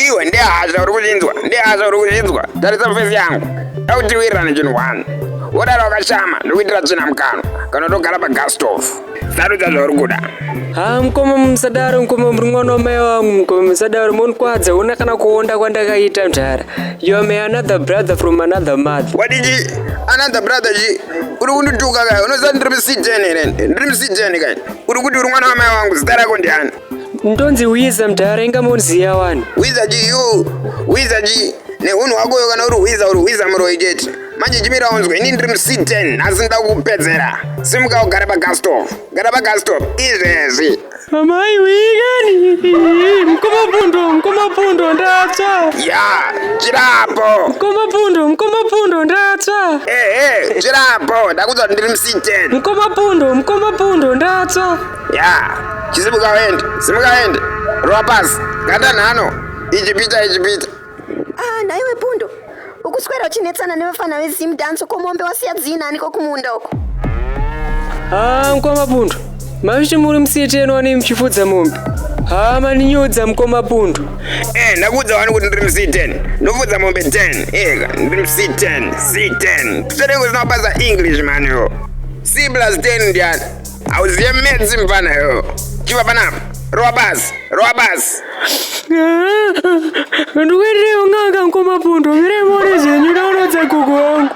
iwe ndehasha uri kuchinzwa ndehasha uri kuchinzwa tarisa mufesi yangu dautiwirirane chinhu one wodara wakashama ndokuitira tsvina mukano kana ndogara pagastove sarudza zvauri kuda ha mukoma musadaro mukoma muri mwana wamai wangu mukoma musadaro monikwadza hona kana kuonda kwandakaita mdara you are my another brother from another mother wadiji another brother ji uri kundituka kai unoziva ndiri musijeni here ndiri musijeni kai uri kuti uri mwana wamai wangu zita rako ndiani ndonzi wiza mdara inga monziya wani wiza ji you wiza ji nehunhu wakoyo kana uri hwiza uri hwiza muroyi chete manje chimira unzwe ini ndiri muciten asi nda kupedzera simuka ugare pagastop gara pagastop izvezvi amai wikani mkomapundo mkomapundo ndatsva ya chirapo mkomapundo mkomapundo ndatsva ehe chirapo ndakudza kuti ndiri muciten mkomapundo mkomapundo ndatsva ya chisimuka uende simuka uende rova pasi gata nhano ichipita ichipita Ah, nhaiwe pundo ukuswera uchinetsana nevafana vezimu danso komombe wasiya dzina aniko kumunda uko haa mukoma pundo maviti muri musiyeteni wani muchifudza mombe haa maninyudza mukoma pundo Eh, ndakuudza wani kuti ndiri mc10 ndofudza mombe 10 ega ndiri mc10 c10 zvitoreko zvinobasa english maniwo c plus 10 ndiyani Auziye medzi mvana yo. Chiva panapa. Rowa basi. Rowa basi. Ndikuendereyo nganga mkoma pundo. Mire mone zvenyu ndaonodza gogo wangu.